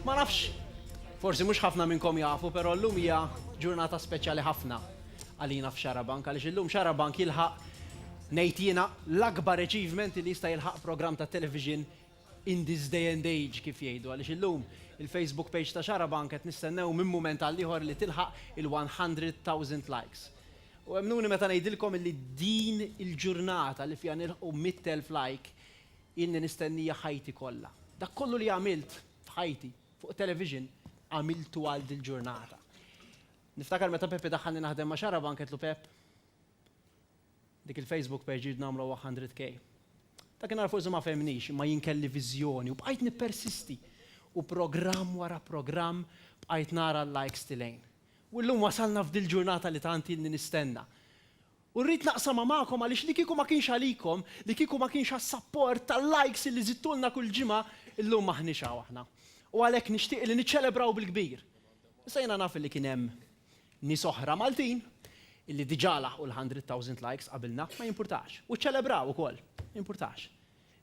Ma nafx, forsi mhux ħafna minnkom jafu, però llum hija ġurnata speċjali ħafna għalina f'Xarabank, għaliex illum Xarabank jilħaq ngħid jiena l-akbar achievement li jista' jilħaq programm ta' television in this day and age kif jgħidu, għaliex illum il-Facebook page ta' Xarabank qed nistennew minn mument għal ieħor li tilħaq il-100,000 likes. U emmnuni meta ngħidilkom li din il-ġurnata li fiha nilħqu 100,000 like Ilni nistennija ħajti kollha. Dak kollu li għamilt f'ħajti fuq it-television għamiltu għal dil-ġurnata. Niftakar meta Pepe daħħalni naħdem ma' Xarabank għedtlu Pepp, dik il-Facebook page irrid nagħmluha 100K. Dakinhar forsi ma fehemnix imma jien kelli viżjoni u bqajt nippersisti u programm wara programm bqajt nara l-likes tilgħin. U llum wasalna f'dil-ġurnata li tant ilni nistenna. U rrid naqsamha magħkom għaliex li kieku ma kienx għalikom, li kieku ma kienx għas-sapport tal-likes li żidtulna kull ġimgħa, illum m'aħniex hawn aħna. U għalhekk nixtieq li niċċelebraw bil-kbir. Issa jiena naf li kien hemm nies oħra Maltin li diġà laħqu l-hundred thousand likes qabilna, ma jimpurtax. U ċċelebraw ukoll, ma jimpurtax.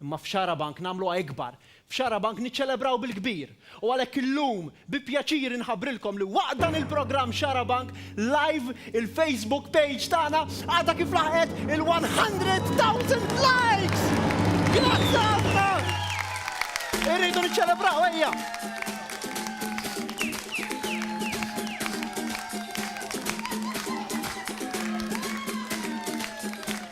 Imma f'Xarabank nagħmluha ikbar. F'Xarabank niċċelebraw bil-kbir. U għalhekk illum bi pjaċir inħabbrilkom li waqt dan il-programm Xarabank Live il-Facebook page tagħna għadha kif laħqet il-100,000 likes! Grazzi ħafna! Irridu niċċelebraw ejja!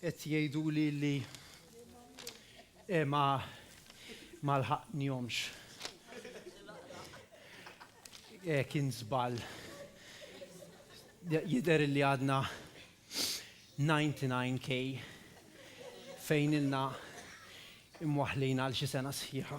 Qed jgħiduli li eh, ma ma lħaqnihomx. Eh, kien żball. Jidher li għadna 99k fejn ilna imwaħlin għal xi sena sħiħa.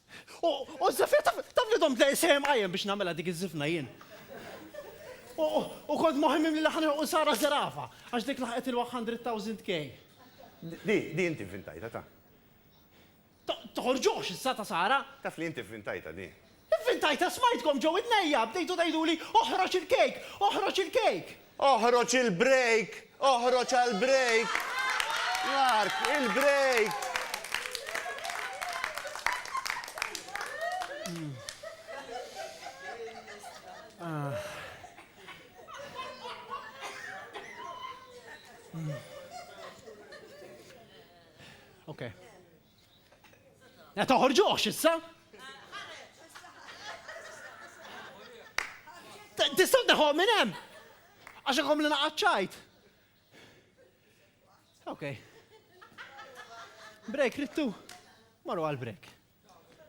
U Zefir taf li domt lejl sejjem qajjem biex nagħmilha dik iż-żifna jien. U kont moħħi mimli li ħa nilħqu Sara Zerafa, għax dik laħqet il-one hundred thousand K. Di, di inti vvintajtha ta. Toħorġux issa ta' Sara! Taf li inti vvintajtha di. Ivvintajtha, smajtkom ġo widnejja, bdejtu tgħiduli oħroġ il-cake, oħroġ il-cake! Oħroġ il-break! Oħroġ għall-break! Mark, il-break! Okay. Ma toħorġuhx issa! Tistgħu teħuh minn hemm! Għax ikom li naqaċċajt. Ok. Break, rittu. Marru għal break.